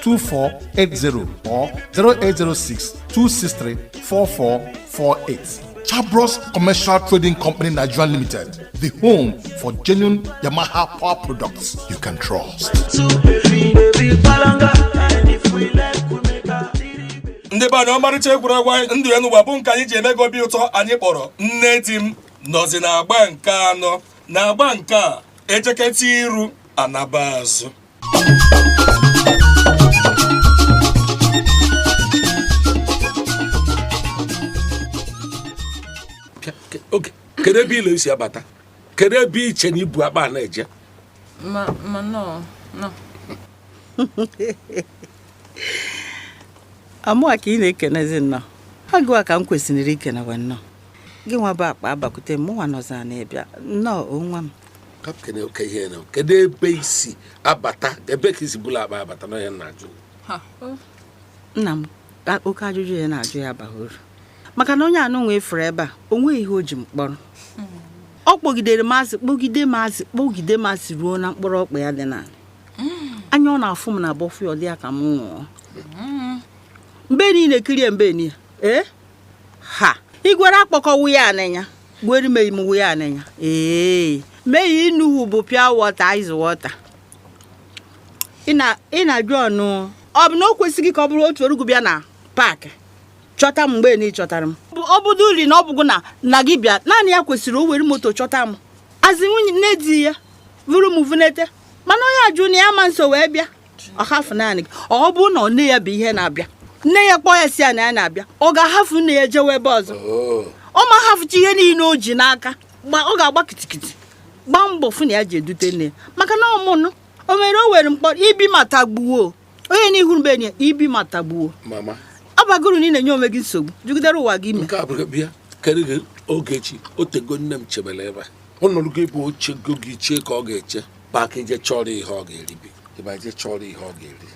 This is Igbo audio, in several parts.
2480 or 0806 263 4448. Chabros Commercial Trading Company Nigeria Limited, the home for genuine Yamaha power products you can trust. ndị be anyị ọmarịcha egwuregwu anyị ndụ ya n'ụwa bụ nke anyị ji eme gị obi ụtọ anyị kpọrọ nne di m nọzi n'agba nke anọ n'agba nke a e jeketa iru a naba azụ kedu ebe ole i si abata kedu ebe i che na i bu akpa na-eje nnọọ ọ mụwa ka ị na-ekenezi nnọọ ọ gịwa ka m kwesịrị ikenewe nnọọ gịwa bu akpa abakwute mụwa nọzi n'ebe a nọọ onwe m kaptịn oke ihe na kedu ebe i si abata ebee ka i si buru akpa abata na ya na-ajụ nna m oke ajụjụ a ị na-ajụ a abaghị uru maka na onye anụ nwe furu ebe a o nweghị ihe o ji m kpọrọ ọ kpọgidere m asị kpọgide m asị kpọgide m asị ruo na mkpụrụ ọkpa ya dị n'ala anya ọ na-afụ m na bọfụ ya ọ dị ya ka m nwụọ mbe niile kirie mbe niile ee ha igwere akpọkọwu ya anịnya gbori me mu ya na ya ee me yi nu hu bu pure water ice water ị na ị na-ajụnụ ọ bụ na o kwesịghị ka ọ bụrụ otu orugu bịa na park chọta m mgbe na ị chọtara m ọ bụdo uli na ọ bụgụ nna gị bịa naanị ya kwesịrị o were moto chọta m a sị nwunye nne di ya vuru m vunete mana onye ajụ na ya ma nso wee bịa ọ hafụ naanị gị ọ bụrụ na nne ya bụ ihe na-abịa nne ya kpọọ ya sị ya na ya na-abịa ọ ga-ahafụ nne ya jewe ebe ọzọ oh. ọ ma hafụcha ihe niile o ji n'aka ọ ga-agba kitikiti gbaa mbọ fụ na ya jee dute nne ya maka na ọmụnụ o mere o were m kpọrọ ibi ma tagbuo onye n'ihu mbe ya ibi ma tagbuo ọ baghị uru na ị na-enye onwe gị nsogbu jigidere onwe gị i mee nke a bụrụ bịa karị gị ogechi o tego nne m chebere ebe a ọ nọrugo ebe o chego gị chee ka ọ ga-eche baa ka i jee chọrọ ihe ọ ga-eribe ị baa i jee chọrọ ihe ọ ga-eri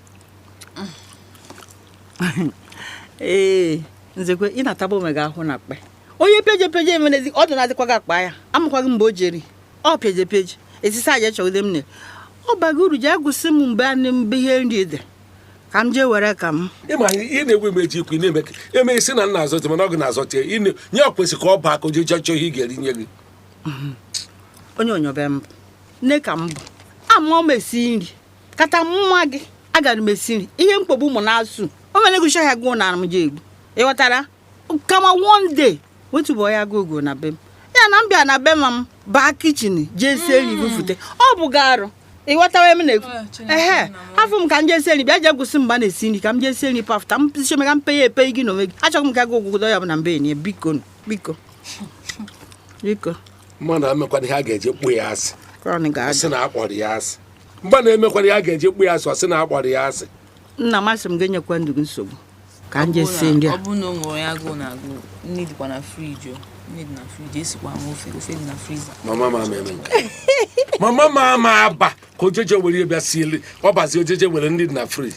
ee nzekwe ị na-ataba onwe gị ahụhụ na akpa onye peje peje emerezi ọ dị na-adịkwa gị akpa ya amakwaghị mgbe o jeri ọ peje peje esisi aja chọgide m ne ọ baghị uru jee gosi m mgbe anị mbe ihe nri dị ka m jee were ka m ịma ị na-egwe m eji ikwu ị na-eme eme isi na nna azọte mana ọ gị na-azọte nye ọ kwesịrị ka ọ baa ka o jee chọọ ihe ị ga-eri nye gị onye onyobe m bụ nne ka m bụ ama m esi nri kata nwa gị agara m esi nri ihe mkpogbu ụmụ na-asụ o mere gụcha ya gụọ na m ji egbu ịghọtara kama one day wetụbọ ya gụ ogo na be m ya na m bịa na be m m baa kichin jee sie nri bufute ọ bụ ga arụ ịghọtawa m na-ekwu ah, ehe afọ m ka m jee sie nri bịa jee gosi mgba na-esi nri ka m jee sie nri pafụta m sichome ka m peye epe gị n'onwe gị achọghị m ka gị ogwụgwụ ya bụ na mbe enyi biko biko biko mmadụ emekwana ihe a ga-eji kpọọ ya asị a sị na a kpọrọ ya asị mgbe na-emekwana ihe a ga-eji kpọọ ya asị ọ sị na a kpọrọ ya asị nna m asị m ga-enyekwa ndụ gị nsogbu ka m jee sie nri a ọ bụrụ na o nwere onye agụụ na-agụ nri dịkwa na friji o mama ma ama eme nke mama ma ama aba ka o je eje were bịa siele ọ bazi o je eje were nri dị na friji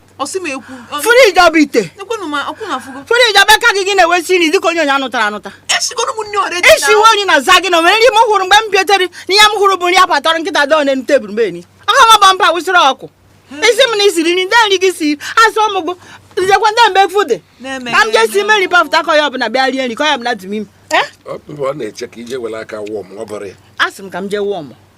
friji ọ bụ ite friji ọ bụ aka gị gị na-ewe esi nri dịka onye onye a nụtara anụta esiwe onye na-aza gị na o nwere nri m hụrụ mgbe m bịatere na ihe m hụrụ bụ nri a patọrọ nkịta dọọ n'elu tebụl mgbe enyi ọha ma bọmpa wụsịrị ọkụ ị sị m na i siri nri ndị nri gị si asụ ụmụ gụ nzekwa ndị mgbe efu dị ka m jee sie nri pafụta ka onye ọbụla bịa rie nri ka onye ọbụla dum ime asị m ka m jee wụọ m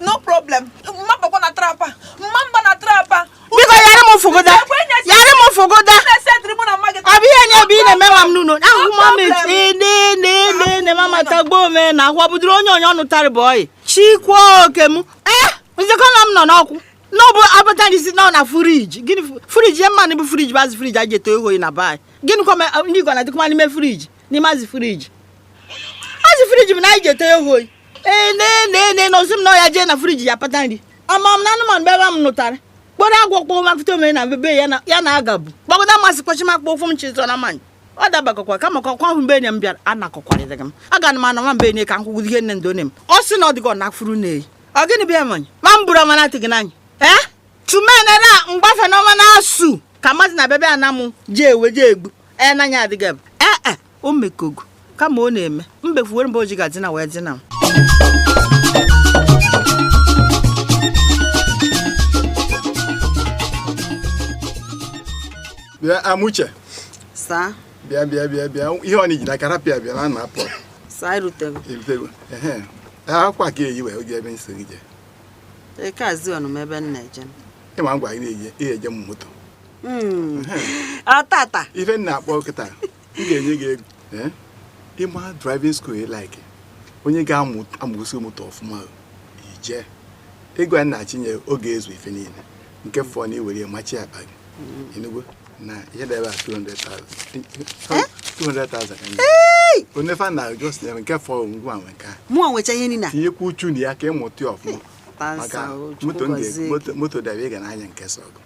no problem m ma-abakwa na trap a m ma-aba na trap a biko yara m fụgoda yara m fụgoda ọ bụ ihe nye ebe ị na-eme nwa m n'ụlọ ahụ m ama echienenenene mama tagbo ome na ahụ ọ bụdịrị onye onye ọ nụtara bụ ọyị chikwa oke m ee eh, nzekọ na m nọ n'ọkwụ n'ọbụ abata ndị si nọ na friji gịnị friji mmanụ bụ friji bụ azụ friji a ji eto oyi na be anyị gịnị kwa ndị igwe na-adịkwa n'ime friji n'ime azụ friji azụ friji m na anyị ji eto oyi ee nee nee nee na ọ sị m na ọ ya-eje na friji ya pata nri ama m na anụmanụ bebe m nụtara kpọrọ agwọ kpọọ mapụta o mere na bebe ya na ya na aga bụ gbagọda masị kwachi m akpọ ụkwụ m chịtọ na mmanya ọ dabakọkwa kama ka ọkwa ahụ mbe enyi m bịara anakọkwarịrị m aga na m ana nwa mbe enyi ka m kwụgwụ ihe nne ndị onye m ọ sị na ọ dịgọ na furu na-eyi ọ gịnị bịa manya ma m bụrụ ọmana atịghị n'anya ee chumenera mgbafe n'ọma na-asụ ka mmadụ na bebe ana m eji ewe ji egbu ee n'anya adịghị m ee e o mekogo kama ọ na-eme mbefuwere ebe o ji ga-edina wee dina m bịa Amuche saa bịa bịa bịa bịa ihe ọ na-eji n'aka rapụ ya bịa na na-apụ saa erutego erutego ehe akwa ka eyi wee oge ebe nso gị jee eke azi ọnụ m ebe m na-eje ịma ngwa gị na-eji ihe eji m moto Hmm. ọtata ife na-akpọ kịta m ga-enye gị ego eh? ịma driving school like onye ga-amụgosi moto ọfụma iji ego a na-achịnye oge ezu ife niile nke fọ na iwere ya machi akpa gị hmm. enugwu na ihe dị ebe a 200,000 onye fa na just nyere nke fọ ngwa were nke a mụọ nwecha ihe niile tinyekwa uchu na ya ka ịmụta ọfụma maka moto dị ebe ị ga na-anya nke sọ gị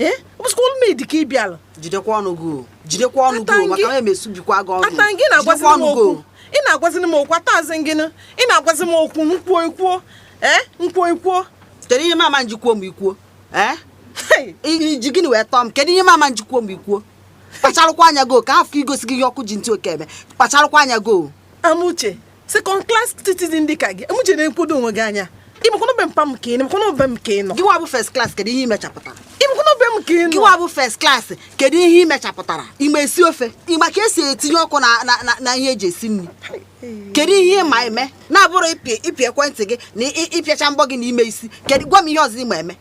ee ọ bụzikwa ọlụ maid ka ị bịara jidekwa ọnụ gị o jidekwa ọnụ gị o maka na m esubikwa gị ọnụ ata gị na-agwazi m okwu ị na-agwazi m okwu atazi gị ị na-agwazi m okwu nkwuo ikwuo ee nkwuo ikwuo kedu ihe mama nji kwuo m ikwuo ee iji gịnị wee tọọ m kedu ihe mama nji kwuo m ikwuo kpacharụkwa anya gị o ka hafụ igosi gị ihe ọkụ ji ntị oke eme kpacharụkwa anya gị o amuche second class citizen dị ka gị amuche na-ekwodo onwe gị anya ịmakwana be mpa m ka ị ịmakwana be m ka ị nọ gịwa bụ first class kedu ihe imechapụtara ịmakwana be m ka ị nọ gịwa bụ first class kedu ihe imechapụtara ịma esi ofe ịma ka esi etinye ọkụ na ihe eji esi nri kedu ihe ịma eme na-abụrọ ịpị ekwentị gị na ịpịacha mbọ gị na ime isi kedu gwa m ihe ọzọ ịma eme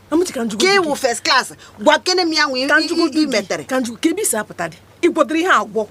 ka ịwụ first class gwakene m ya nwee ihe imetere ka njikwa ka ebe isi apụta dị ịgwọdịrị ihe agwọ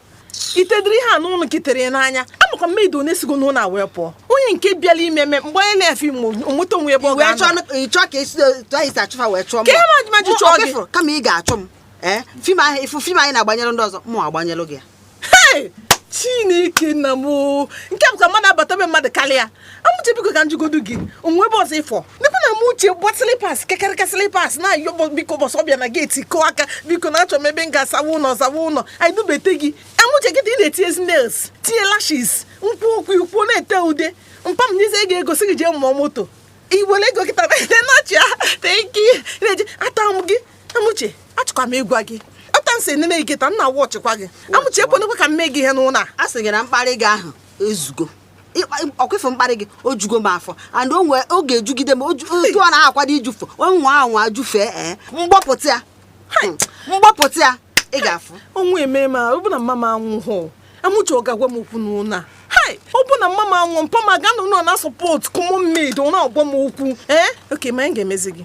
itedịrị ihe a n'ọnụ nke tere n'anya amakwa m maid one sigo n'ụlọ a wee pụọ onye nke bịara ime eme mgbe onye na-efe ime onweta onwe ebe ọ wee chọọ ga-anọ ka ị chọọ ka esi otu anyị si achụ fa wee chụọ m Ka ihe ma- ma ji Mụ- chụọ ọ gị. bịafụrụ, kama ị ga-achụ m ee fim ahụ ịfụ fim anyị na-agbanyere ndị ọzọ mụ agbanyelụ gị ya Hey! chineke nna m o. nke bụ ka mmadụ abata be mmadụ karịa amuche biko ka njụgodu gị o nwe ebe ọzọ ịfọ nekwa na amuche gba slipas kekereka slipas na-ayọ biko gba ọsọ bịa na geeti kụọ aka biko na-achọ m ebe m ga-asawa ụlọ zawa ụlọ anyị dubata gị amuche gị dị ị na-etinye nails tinye lashes nkwuo okwu ikwuo na-ete ude mpa m nyezie gị ego sị gị jee mụọ moto iwere ego kịta na-achị ya tenki na-eje ata m gị amuche achọkwa m ịgwa gị otu a m si nene gị kịta m na-awa ọchịkwa gị amuche ekwenekwa ka m mee gị ihe n'ụlọ a sị gị na mkparị gị ahụ ezugo ọkwa ị fụ mkparị gị o jugo m afọ and ọ ga-ejugide m otu ọ na-akwado ijufe ọ nwaa anwa jufee ee eh, mgbọpụta ya hmm, mgbọpụta ya ị ga-afụ onwe eme ma ọ bụ na mma m anwụhụ amuche ọ ga-agwa m okwu n'ụlọ a ọ bụ na mma m anwụ mpa m aga-anọ na-asọpọt ka ụmụ maid na-agwa m okwu ee eh, oke ma anyị ga-emezi gị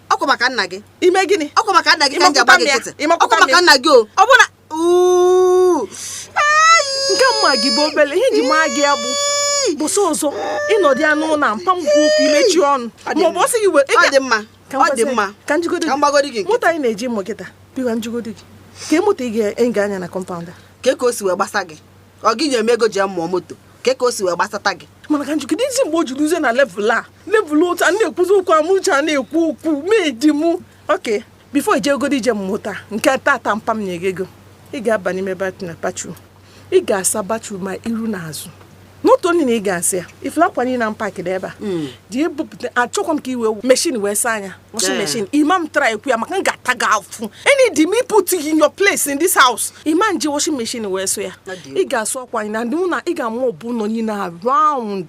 ọkwa maka nna gị ime gịnị ọkwa maka nna gị ka m ji agba gị nkịtị ọkwa maka nna gị o ọ bụ na nke mma gị bụ obele ihe ji maa gị ya bụ ụbọsị ọzọ ịnọdụ ya n'ụlọ mpa m gwa okwu imechi ọnụ ma ọ bụ ọsị gị were ọ dị mma ọ dị mma ka njụgodi gị moto a ị na-eje mụ kịta bịa njụgodi gị kee moto ị ga-anya anya na kọmpaụnd a kee ka o si wee gbasa gị ọ gị nye m ego ji mụọ moto kee ka o si wee gbasata gị mana ka njụgodi isi mgbe o ji ruzie na level a level otu a na-ekwuzi okwu Amuche na-ekwu okwu mee di m okay before i jegodi ije mmụta nke taata mpa m nye gị ego ị ga-aba n'ime bathroom ị ga-asa bathroom ma iru na azụ not only na ị ga-asa ya ị fụla akwa niile na mpakịda ebe a hmm. dị ebupụta achọkwa m ka i were machine wee saa ya washing machine ị ma try ekwu ya maka m ga-ata gị afụfụ and m put you in your place in this house ị ma eji washing machine wee saa ya ị ga-asụ akwa anyị na ndị mụ na ị ga-amọpụ ụnọ niile around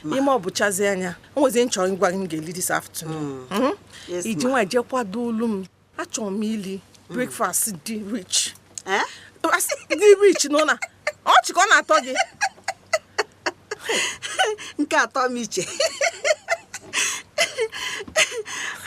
ị mọpụchazie ya o nwezi ihe m chọrọ ịgwa gị m ga-eli this afternoon mm. hmm? gị nwa je kwadolu m achọrọ m ili mm. breakfast dị rich eh? dị rich nọ na ọchị ka ọ na-atọ gị nke atọ Amuche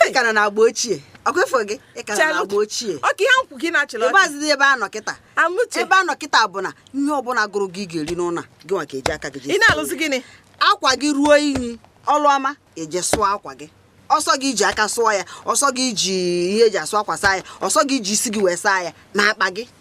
ị ka nọ na agba ochie ọkwa efo gị ị ka nọ na Chelụ. agba ochie ọka ihe m kwu gị na-achịrị ebe ọchị azịdị ebe a nọ kịta Amuche ebe a nọ kịta bụ na ihe ọbụla gụrụ gị ị ga-eri n'ụlọ a, gị nwa ga-eji aka gị ị jee na-alụzi gịnị akwa gị ruo inyi ọlụọma eje sụọ akwa gị ọ sọ gị i ji aka sụọ ya ọ sọ gị i ji ihe eji asụ akwa saa ya ọ sọ gị i ji isi gị wee saa ya na akpa gị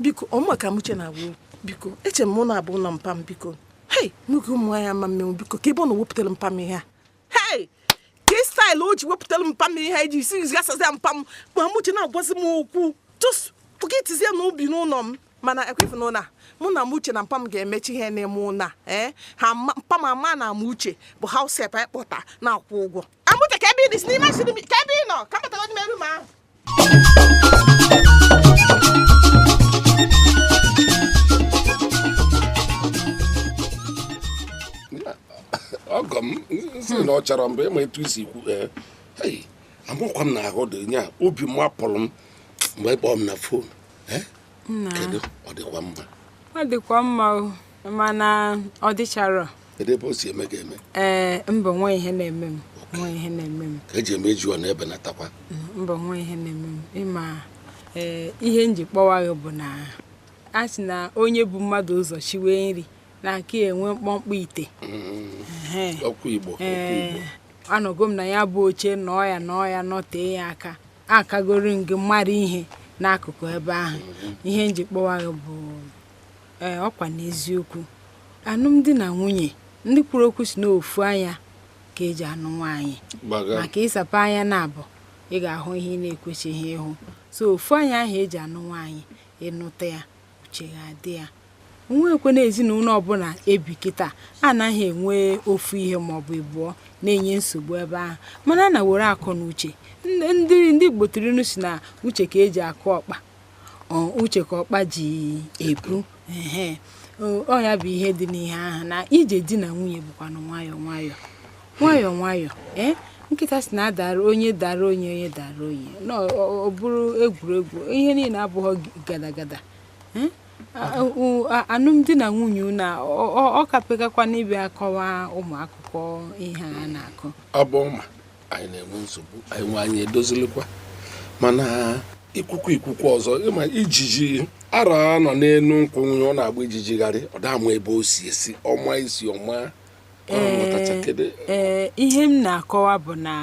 biko ọ mụwa ka Amuche na-agwa okwu biko eche m na ọ bụ ụlọ mpa m biko hei nwoke ụmụ nwaanyị ama mmenwu biko kee ebe ọ nọ wepụtara mpa m ihe a hei kee style o ji wepụtara mpa m ihe a iji isi gasazi ya mpa m ma Amuche na-agwazi m okwu just pocketizie na obi n'ụlọ m mana ekwefu na ụlọ a mụ na Amuche na mpa m ga-emechi ihe n'ime ụlọ a ee ha ma- mpa m ama na Amuche bụ house help anyị kpọta na-akwụ ụgwọ Amuche kee ebe ị dị si n'ime asịrị m kee ebe ị nọ ka m batara n'ime room ahụ ọgọ m sị na ọ chọrọ mgbe ị ma etu i si ekwu ee hei amakwa m na ahụ dị nya obi mapụrụ m mgbe ị kpọọ m na phone ee kedu ọ dịkwa mma ọ dịkwa mma o mana ọ dịchara ebe o si eme gị eme ee eh, mba o nweghị ihe na-eme m o nweghị ihe na-eme m ka eji eme eju ọ na-ebe na takwa mba o nweghị ihe na-eme m ịma ee eh, ihe m ji kpọwa gị bụ na a sị na onye bu mmadụ ụzọ shiwe nri na-aka enwe mkpọmkpọ ite mm-hmm. okwu Igbo eh, anọgo m na ya bụ oche nọọ ya nọọ ya nọtee ya aka akagoro m gị mara ihe n'akụkụ ebe ahụ mm-hmm. ihe m ji kpọwa gị bụ ee ọkwa n'eziokwu alụmdi na nwunye ndị kwuru okwu sị na ofu anya ka eji anụ nwaanyị maka ị sapụ anya naabọ ị ga-ahụ ihe ị na-ekwesịghị ịhụ so ofu anya ahụ eji anụ nwaanyị ị nụta ya uche ga-adị ya o nwekwe na ezinụlọ ọbụla ebi kịta anaghị enwe ofu ihe maọbụ ịbụọ na-enye nsogbu ebe ahụ mana na were akọ na uche ndị ndị gboo tiri inu sị na uche ka eji akụ ọkpa ọ uche ka ọkpa ji ebu ehe o ọ ya bụ ihe dị n'ihe ahụ na ije di na nwunye bụkwanụ nwayọọ nwayọọ nwayọọ nwayọọ ee nkịta sị na a dara onye dara onye onye dara onye na ọ- ọ ọ bụrụ egwuregwu ihe niile abụghị gada gada ee? A- u- a- alụmdi na nwunye na ọ kapekakwa n'ibe akọwa ụmụ akụkọ ihe a na-akọ a bụ ma anyị na-enwe nsogbu anyị nwe anyị edozilikwa mana ikwukwu ikwukwu ọzọ ịma ijiji ara a nọ n'elu nkwụ nwunye ọ na-agba ijijigharị ọ dama ebe o si esi ọma isi ọma ọ mụtacha kedu ee ihe m na-akọwa bụ na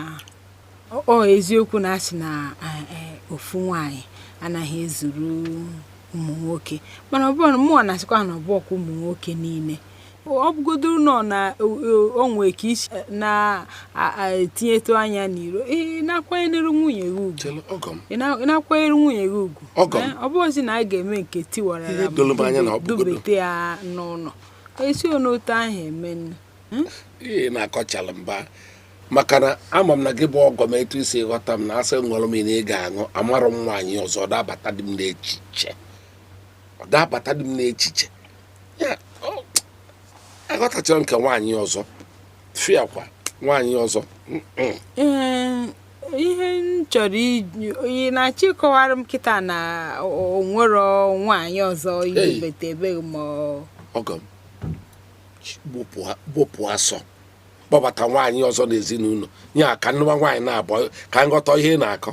ọ- ọ eziokwu na a sị na eh, eh, ofu nwanyị anaghị ezuru ụmụ nwoke mana ọ bụrụ mụọ na-asịkwa na ọ bụrọkwa ụmụ nwoke niile ọ bụgodoro nọ na o nwe ka i si na-etinyetụ anya n'iro ị na-akwanyere nwunye gị ugwu Chere, ọgọ m ị na- ị na-akwanyere nwunye gị ugwu Ọgọ m. Eh, ọ bụghịzi na a ga-eme nke tiwara Ihe ya doro m anya na ọ bụgodo. dubete ya n'ụlọ e si n'otu ahụ eme nne ị na-akọchala mba maka na ama m na gị bụ ọgọ m etu i si ghọta m na a sị nụrụ m na ị ga-anụ amarọ m nwaanyị ọzọ ọ dabata dị m n'echiche ọ dabata dị m n'echiche aghọtacharọ nke nwaanyị ọzọ fịakwa nwaanyị ọzọ ihe m chọrọ ị na-achọ ịkọwara m kịta na o nwerọ nwaanyị ọzọ ihe bete ebeghị ma ọgọ m gbụpụ asọ kpọbata nwaanyị ọzọ n'ezinụlọ ya ka m nụwa nwaanyị naabọ ka m ghọta ihe ị na-akọ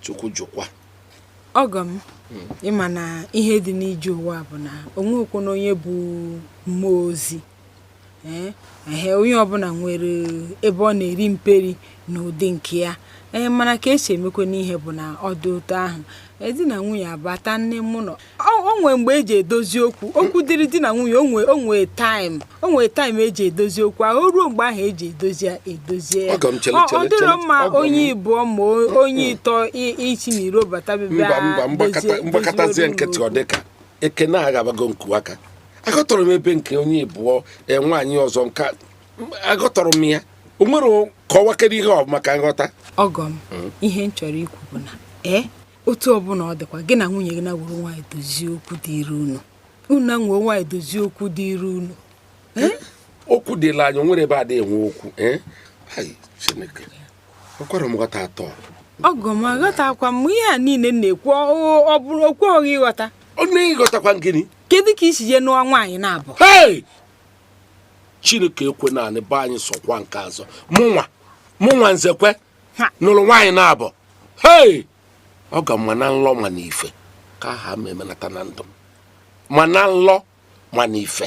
chukwu jụkwa ọgọ m hmm. ịma na ihe dị n'ije ụwa bụ na o nweekwanụ onye bụ mmụọ ozi ee eh, onye ọbụla nwere ebe ọ na-eri mperi n'ụdị nke ya ee eh, mana ka e si emekwanụ ihe bụ na ọ dị otu ahụ di na nwunye abata n'ime ụnọ o nwee mgbe eji edozi okwu okwu dịrị di na nwunye onwe onwe taịm onwe taịm eji edozi okwu ahụ ruo mgbe ahụ eji edozi ya edozie ya ọ dịrọ mma onye ịbụọ ma onye ịtọ isi n'iro bata bebe m gbakọtazie nkịtị ọ dịka ekene agabago nku aka aghọtarọ m ebe nke onye ịbụọ e, nwaanyị ọzọ nke aghọtarọ m ya o nwere kọwakere ihe ọma ka m ghọta ọgọ m hmm. ihe m chọrọ ikwu bụ na ee eh, otu ọbụla ọ dịkwa gị na nwunye gị na were nwaanyị dozie okwu dịrị unu unu na nwee nwaanyị dozie okwu dịrị unu eh? okwu dịla anyị nwere ebe adịghị enwe okwu eh? chineke ọkwara m ghọta atọ ọgọ m aghọtakwa m ihe a niile na-ekwu ọ bụrọ okwu ọghị ịghọta ọ naghị ịghọtakwa gịnị kedu ka i si je nụọ nwaanyị naabọ chineke ekwena anị be anyị sọkwa nke a asọ mụnwa mụnwa nzekwe nụrụ nwaanyị naabọ hei ọ ga ma na nlọ ma na ife ka aha m emenata na ndụ m ma na nlọ ma na ife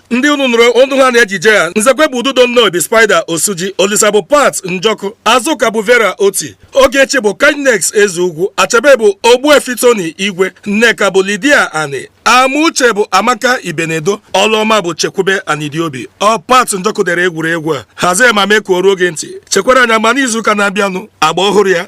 ndị unu nụrụ onu ha n'ejije a nzekwe bụ ududo nnobi spider osuji olisa bụ pat njọkụ azụka bụ vera oti ogechi bụ kindness ezeugwu achebe bụ ogbuefi tony igwe nneka bụ lydia ani amuche bụ amaka ibenedo ọlụọma bụ chekwube anidiobi ọ pat njọkụ dere egwuregwu a hazie ma mee ka o ruo gị ntị chekwara anyị ugbua n'izuụka na-abịanụ agba ọhụrụ ya